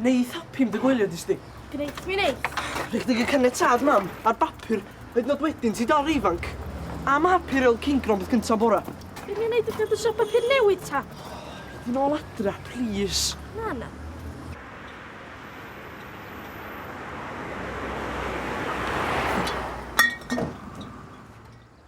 Neith happy am dy gwylio di sti. Gneith mi neith. Rhych dig y caniatad mam ar bapur hyd nod wedyn ti dal ifanc. Am happy reol cingron bydd gynta bora. Be ni'n neud ydy dysio papur newydd ta? Ti'n ôl adra, please. Na, na.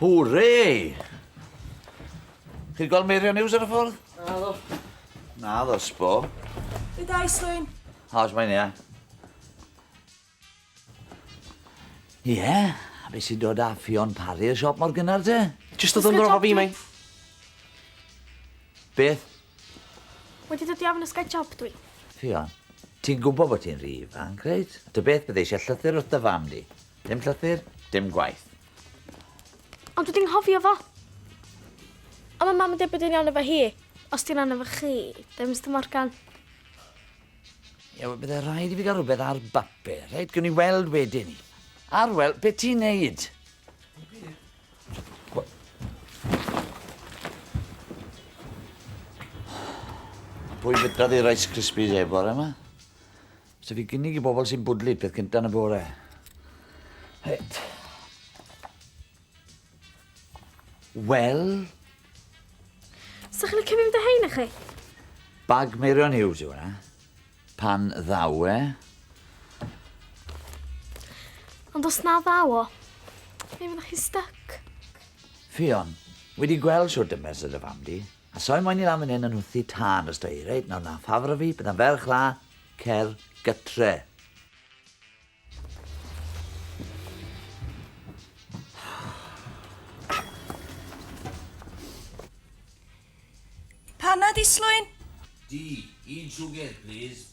Hwre! Chi'n gweld Meirion News ar y ffordd? Na ddo. Na ddo, sbo. Be da, Islwyn? How's mae'n ia? Ie, yeah. a beth sy'n dod â Ffion Parry y siop mor gynnar te? Just oedd yn rofa fi, mae'n. Beth? Wedi dod i ofn ysgau job dwi. Ffion, ti'n gwybod bod ti'n rhi ifanc, reit? Dy beth bydde eisiau llythyr wrth dy fam di. Dim llythyr, dim gwaith. Ond dwi 'di nghofio fo. A ma' mam yn deud bod e'n iawn efo hi. Os di'n iawn efo chi, then Mister Morgan. Ie, wel, bydde rhaid i fi gael rhywbeth ar bapur, reit? Gwn i weld wedyn 'ny. Ar, wel, be' ti'n neud? Pwy fydda ddi Rice Krispies e bore 'ma? So fi gynnig i bobl sy'n bwdlu peth cynta yn y bore. Reit. Wel? Sa chi'n licio mynd â hein chi? Bag Meirion Hughes yw hwnna. Pan ddaw e. Ond os na ddaw o, fe fyddwch chi'n stuck. Fion, wedi gweld sŵr dymes y dy fam di. A soi moyn i lan fan hyn yn nhwthi tân os da i. Reit, nawr na ffafra fi, bydda'n ferch la, cer gytre. Panad i slwyn? Di, un siwgr, please.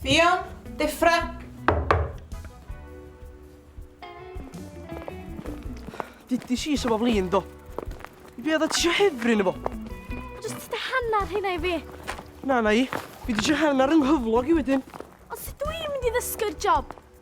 Ffion, deffra! Dydys i sef o flin, do. Be oedd ti eisiau hefryn efo? Just ti dy hanner hynna i fi. Na, na i. Fi di eisiau hanner yng nghyflog i wedyn. Ond sut dwi mynd i ddysgu'r job?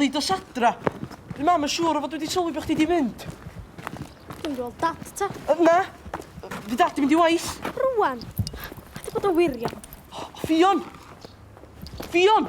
Lid o sadra. Dwi'n mam yn siŵr o fod wedi sylwi bod chdi di mynd. Dwi'n gweld dad ta. Yy, Na, fi dad di mynd i waith. Rwan. Ti bod yn wirion. Ffion! Ffion!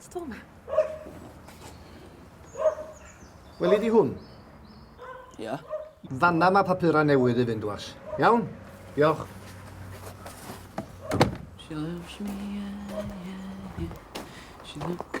Ti dod ma? Weli di hwn? Ia. Yeah. Fanna mae papurau newydd i fynd, was. Iawn? Diolch. She loves me, yeah, yeah, yeah. She loves...